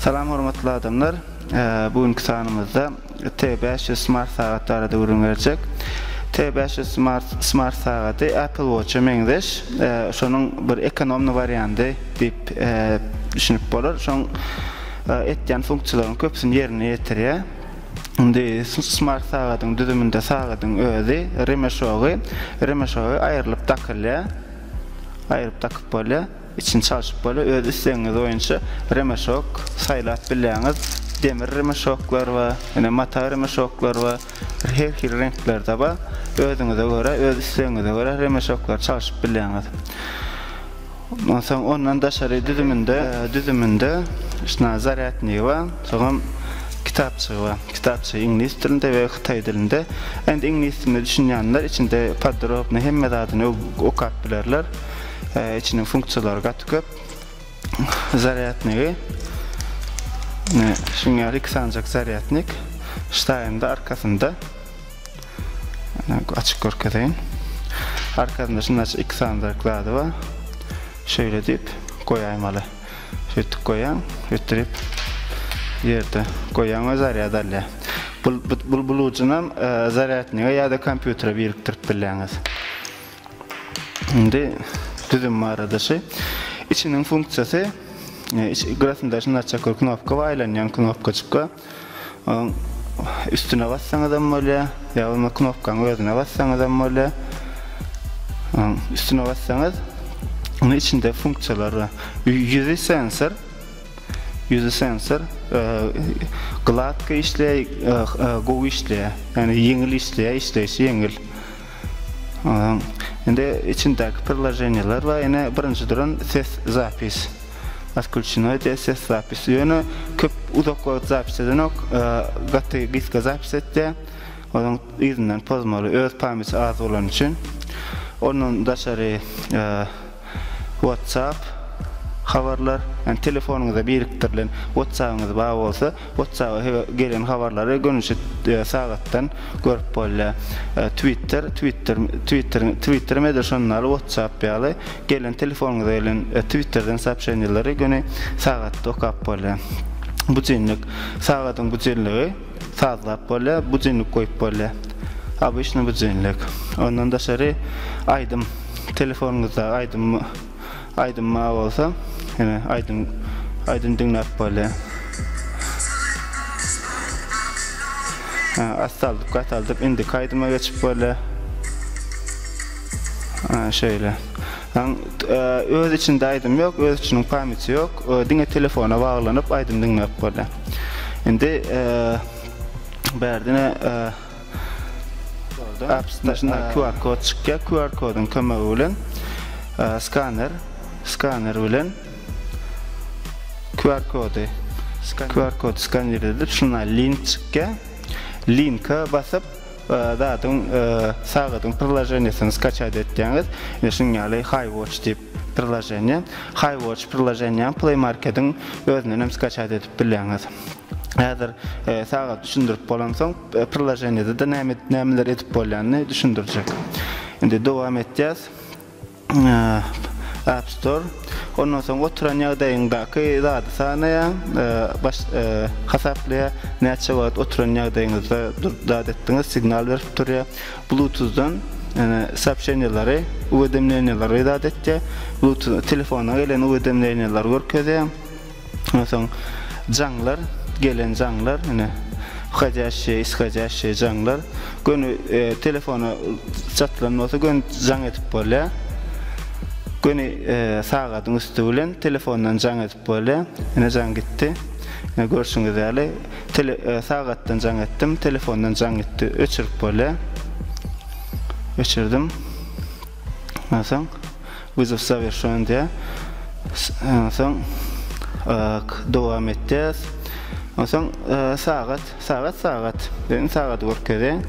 Salam hormatly adamlar. Bu günki sanymyzda T500 smart sagat barada gürrüň berjek. T500 smart smart sagaty Apple Watch-a meňzeş. Şonuň bir ekonomny wariandy diýip düşünip bolar. Şoň etýän funksiýalaryň köpüsini ýerine ýetirýär. Indi smart sagadyň düzüminde sagadyň özi, remeşogy, remeşogy aýrylyp dakylýar. Aýryp dakyp bolýar. Içini çalşyp bolýar. Öz islegiňiz boýunça remeşok saýlap bilýäňiz. Demir remeşoklar bar, ine mata remeşoklar bar. Her hili reňklerde bar. Özüňize görä, öz islegiňize görä remeşoklary çalşyp bilýäňiz. Onsoň ondan daşary düzüminde düzüminde şna zarýadnygy bar, soňam kitapçygy bar. Kitapçygy iňlis dilinde we hytaý dilinde. Indi iňlis diline düşünýänler içinde podrobny hemme zadyny o okap bilerler. Içiniň funksiýalary gaty köp. Zarýadnygy ne şuň ýaly iki sanjak zarýadnik ştaýynda arkasynda. Açyk görkezeýin. Arkasynda şunda iki sany zerk zady bar. Şöyle dip goýaýmaly. Şöýtdip goýaň, ötdürip ýerde goýaň we zarýad alýar. Bu bu bulujynam e, zarýadnige ýa-da kompýutere birikdirip bilýäňiz. Indi düzüm barada şu. Içiniň funksiýasy e, iç, gyrasynda şunda açak knopka we aýlanýan knopkaçykka. Onuň üstüne bassaňyzam bolýar, ýa bolmasa knopkanyň özüne bassaňyzam bolýar. Onuň üstüne bassaňyz, ony içinde funksiýalar bar. Ýüzi sensor, ýüzi sensor, gladka işleýär, gowy işleýär. Ýöne ýeňil işleýär, işleýşi ýeňil. Ondan indi içindäki priloženiýalar bar. Ine birinji duran ses zapis. Atkulçinoý diýe ses zapis. Ýöne köp uzak wagt zapis edenok. Gaty gysga zapis etdi. Onuň yzyndan pozmaly öz pameti az bolany üçin. Ondan daşary WhatsApp, Habarlar, ýagny telefonyňyza birikdirilen WhatsApp-yňyz bar bolsa, WhatsApp-a he gelen habarlary gönüçi sagatdan görüp bolýar. Twitter, Twitter, Twitter, Twitter-em edil şonuň ýaly, WhatsApp ýaly, gelen telefonyňyza gelen Twitter-den soobşeniýeleri göni sagatda okap bolýar. Budilnik, sagadyň budilnigi. Sazlap bolýar, budilnik goýup bolýar. Obyçnyý budilnik. Ondan daşary aýdym, telefonyňyzdaky aýdym aýdym bar bolsa, ýene aýdym aýdym diňläp bolýar. Hä, astaldyp, gataldyp indiki aýdyma geçip bolýar. Hä, şeýle. Aň, öz içinde aýdym ýok, öz içiniň pamýti ýok, diňe telefona baglanyp aýdym diňläp bolýa. Indi bärdine apsdaşyna QR kod çykýa, QR kodyň kömegi bilen skaner, skaner bilen QR kody, QR kod skaner edip şuna link çykýa. Linka basyp Zadyň, sagadyň prilojeniýesini skaçat etýäňiz we şunuň ýaly Haýwatch diýip prilojeniýe, Haýwatch prilojeniýäni Play Marketiň özünden hem skaçat edip bilýäňiz. Häzir sagaty düşündirip bolansoň, prilojeniýede-de näme, nämeler edip bolýanyny düşündirjek. Indi dowam etýäs. App Store, ondan soň oturan ýagdaýyňdaky zady sanaýaň, hasaplaýar, näçe wagt oturan ýagdaýyňyzda durup zat etdiňiz, signal berip durýar. Bluetooth-dan soobşeniýalary, uwedemleniýalary zat etýär, Bluetooth, telefona gelen uwedemleniýalary görkezýär. Ondan soň jaňlar, gelen jaňlar, ine, whodýaşşeý, ishodýaşşeý jaňlar. Göni telefona çatylan bolsa göni jaň edip bolýar. Göni sagadyň üsti bilen telefondan jaň edip bolýar. Ine, jaň gitdi. Ine, görşüňiz ýaly, sagatdan jaň etdim, telefondan jaň gitdi, öçürip bolýar. Öçürdim. Ondan soň Wyzow zawierşon diýä. Onsoň ok dowam etýäs. Onsoň sagat, sagat, sagat. Beýni sagady görkeziň.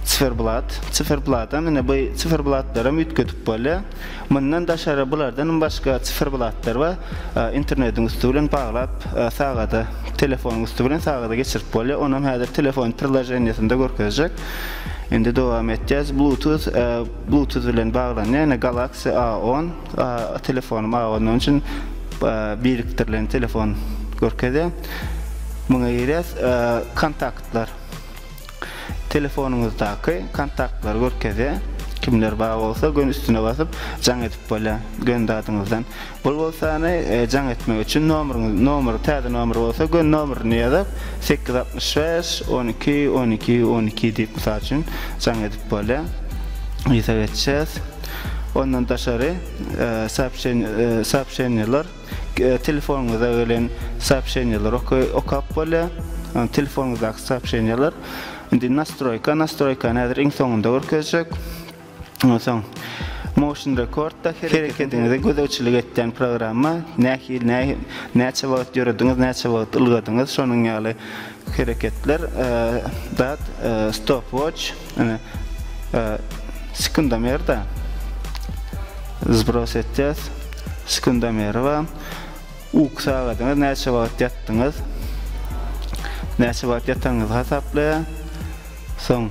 Siferblat, siferbladan ine bu siferblatlaram üýtgedip bolýar. Mundan daşary bulardanam başga siferblatlar bar. Internetiň üsti bilen baglap sagada, telefonyň üsti bilen sagada geçirip bolýar. Onam häzir telefon prilajeniýesinde görkezjek. Indi dowam etýäs. Bluetooth Bluetooth bilen baglanýar, ýöne Galaxy A on telefonym A on onuň üçin birikdirilen telefon görkezýär. Muňa girýäs, kontaktlar. Telefonyňyzdaky kontaktlary görkezýär. Kimler bar bolsa göni üstüne basyp jaň edip bolýar, göni zadyňyzdan. Bul bolsany jaň etmek üçin nomeriňiz nomeri täze nomer bolsa gön nomerini ýazyp sekiz altmyş bäş on iki on iki on iki diýip mysal üçin jaň edip bolýa ýüze geçýäs ondan daşary soobşeniýa soobşeniýalar telefonyňyza gelen soobşeniýalar okap bolýa telefonyňyzdaky soobşeniýalar indi nastroýka nastroýkany häzir iň soňunda görkezjek. Ondan soň Motion Record-da hereketiňize gözegçilik etýän programma, nähili, näçe wagt ýörediňiz, näçe wagt ylgadyňyz, şonuň ýaly hereketler, dat, stopwatch, sekundomer-de zbros etýäs, sekundomeri bar, uky sagadyňyz, näçe wagt ýatdyňyz, näçe wagt ýatanyňyzy hasaplaýar, soň.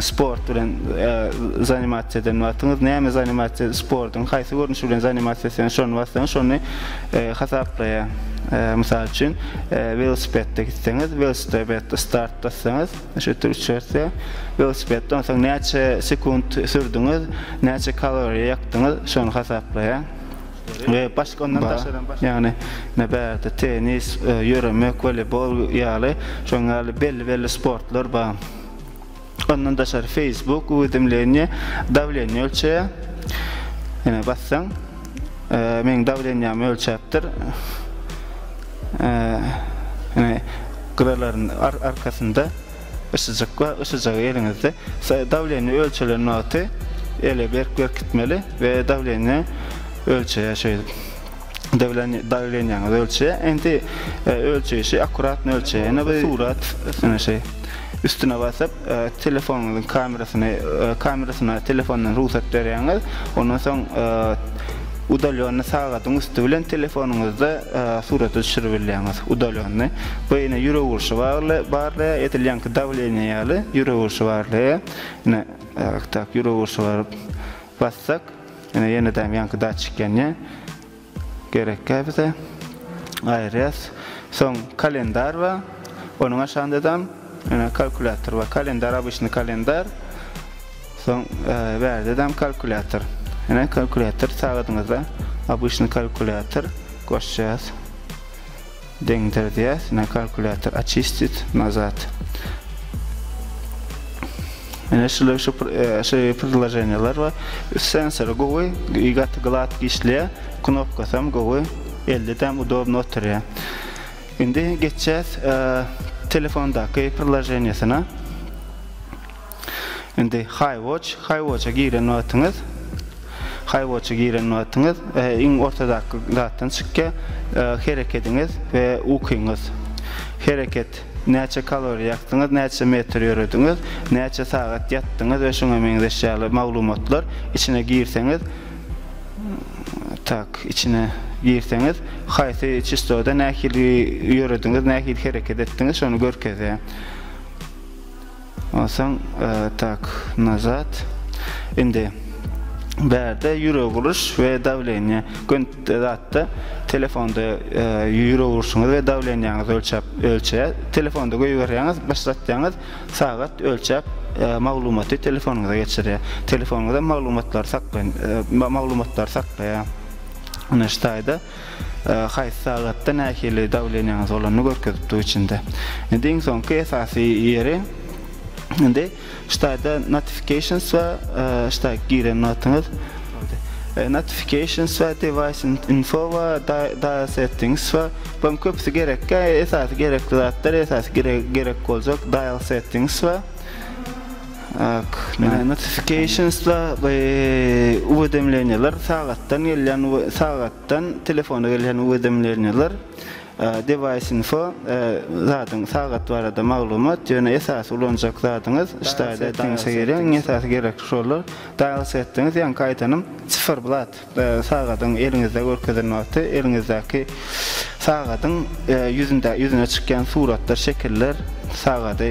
Sport bilen zanimasiýa eden wagtyňyz, näme zanimasiýa, sportuň haýsy görnüşi bilen zanimasiýa etseňiz, şony bassaňyz, şony hasaplaýar. Mysal üçin, welosipedde gitseňiz, welosiped start bassaňyz, şeýtde üç ýörse, welosipedde onsoň näçe sekunt sürdüňiz, näçe kaloriýa ýakdyňyz, şony hasaplaýar. We başga ondan daşaram, ýagny ine bärde tennis, ýöremek, woleýbol ýaly, şoň ýaly belli-belli sportlar bar. Ondan daşary Facebook uwedemleniýe dawleniýe ölçeýär. Ýene bassaň, e, meň dawleniýämi ölçäpdir. E, ýene gyralaryň arkasynda yssyjyk bar, yssyjygy eliňizde dawleniýe ölçelen wagty ele berk berkitmeli we dawleniýe ölçeýär şeýdip. Dawleniýe, dawleniýäňizi ölçe. Indi ölçeýşi akkuratny ölçe. Ene bir surat üstüne şey. Üstüne basyp, telefonyňyzyň kamerasyny, kamerasyna telefondan rugsat berýäňiz. Ondan soň udalenny sagadyň üsti bilen telefonyňyzda surata düşürip bilýäňiz, udalenny. Bu ene ýürek urşy bagly, barlaýar, edil ýaňky dawleniýe ýaly ýürek urşy barlaýar. Ine, tak, ýürek urşy baryp bassak. Ine ýenedem ýaňky datçik ýanýa. Gerekkä bize. Aýyrýas. Soň kalendar bar. Onuň aşagyndadan ine kalkulýator bar. Kalendar obyçny kalendar. Soň bärdedem kalkulýator. Ine kalkulýator sagadyňyzda obyçny kalkulýator goşýas. Deňdir diýýäs. Ine kalkulýator Oçistit nazat. Ine şular şu şu predloženiýalar bar. Sensory gowy, gaty glatky işleýär. Knopkasy hem gowy. Elde-de hem udobno oturýar. Indi geçýäs telefondaky predloženiýasyna. Indi Highwatch, Highwatcha giren wagtyňyz, Highwatcha giren wagtyňyz iň ortadaky zatdan çykýar, herekediňiz we ukyňyz. Hereket, näçe kaloriýa ýakdyňyz, näçe metr ýörediňiz, näçe sagat ýatdyňyz we şuňa meňzeş ýaly maglumatlar içine girseňiz, tak, içine girseňiz, haýsy çistoda nähili ýörediňiz, nähili hereket etdiňiz, şony görkezýär. Onsaň tak nazat indi bärde ýürek uruş we dawleniýe gün zatda telefonda ýürek uruşyňyzy we dawleniýaňyzy ölçäp ölçeýär telefonda goýberýäňiz başlatýaňyz sagat ölçäp maglumaty telefonyňyza geçirýär telefonyňyzda maglumatlary saklaýan maglumatlary saklaýar ine şu taýda Haýsy sagatda nähili dawleniýaňyz bolanyny görkezip dur içinde. Indi iň soňky esasy ýeri indi ştaýda notifications we ştaý giren wagtyňyz notifications we device info we dial settings we bularyň köpüsi gerekkä esasy gerekli zatlar esasy gerek boljak dial settings we Notifikationsda uwedemleniýeler, sagatdan gelýän sagatdan telefona gelýän uwedemleniýeler, device-info, zadyň sagat barada maglumat, ýöne esasy ulanjak zadyňyz, ştaýle diýseň, iň esasy gerekli şollar, dial setdiňiz, ýaňky aýdanym, siferblat. Sagadyň eliňizde görkezilen wagty eliňizdäki sagadyň ýüzünde ýüzüne çykýan suratlar, şekiller sagady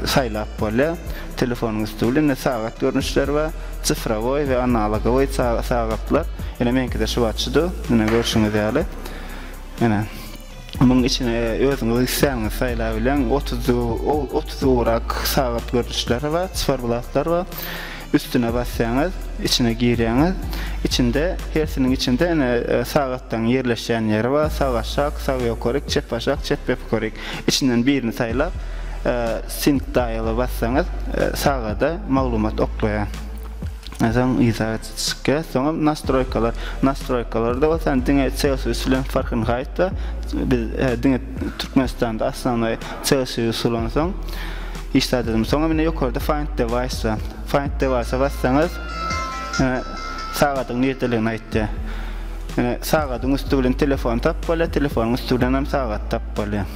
saýlap bolýar. Telefonyň üsti bilen indi sagat görnüşleri bar. Sifrowoý we analogowoý sagatlar. Ine meňkide şu wagt şudur. Ine görşüňiz ýaly. Ine. Muň içine özüňiz isläniňiz saýlabileň. Otuz otuz ugrak sagat görnüşleri bar, cyferblatlar bar. Üstüne basýaňyz, içine girýäňiz. Içinde hersiniň içinde ene sagatlaryň ýerleşýän ýeri bar. Sag aşak, sag ýokaryk, çep aşak, çep ýokaryk. Içinden birini saýlap, sync dial-a bassaňyz, sagada maglumat oklaýar. Soň yza. Skke, soňam nastroýkalar. Nastroýkalarda bolsa hany diňe Celsius bilen Farhenhaýtda biz diňe Türkmenistanda osnovnoý Celsius ulansoň iş zat edimi. Soňam ine ýokarda Find Device. Find Device-a bassaňyz ine sagadyň nirdeligini aýtýar. Ine sagadyň üsti bilen telefony tapyp bolýar, telefonyň üsti bilenem sagaty tapyp bolýar.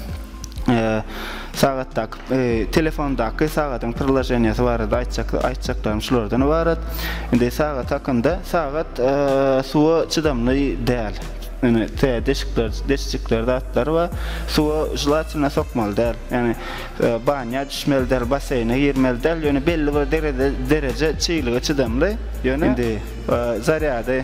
sagatdaky telefondaky sagadyň priloženiýasy barada aýtjak aýtjaklarym şulardan ybarat. Indi sagat hakynda sagat suwa çydamly däl. Ýöne tä deşikler, deşjikler zatlar bar. Suwa želatina sokmaly däl. Ýani banýa düşmeli däl, baseýne girmeli däl. Ýöne belli bir derejede çyglyga çydamly. Ýöne indi zarýady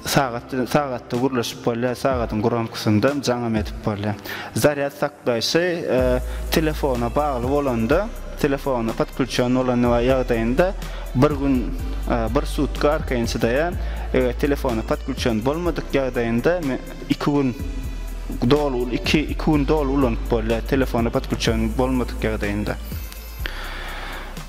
Sagat sagatda gürleşip bolýar, sagadyň gromkosynda jaňam edip bolýar. Zarýad saklaýşy telefona bagly bolanda, telefona podklýuçen bolan ýagdaýynda bir gün, bir sutka arkaýyn çydaýar. Eger telefona podklýuçen bolmadyk ýagdaýynda iki gün doly, iki gün doly ulanyp bolýar, telefona podklýuçen bolmadyk ýagdaýynda.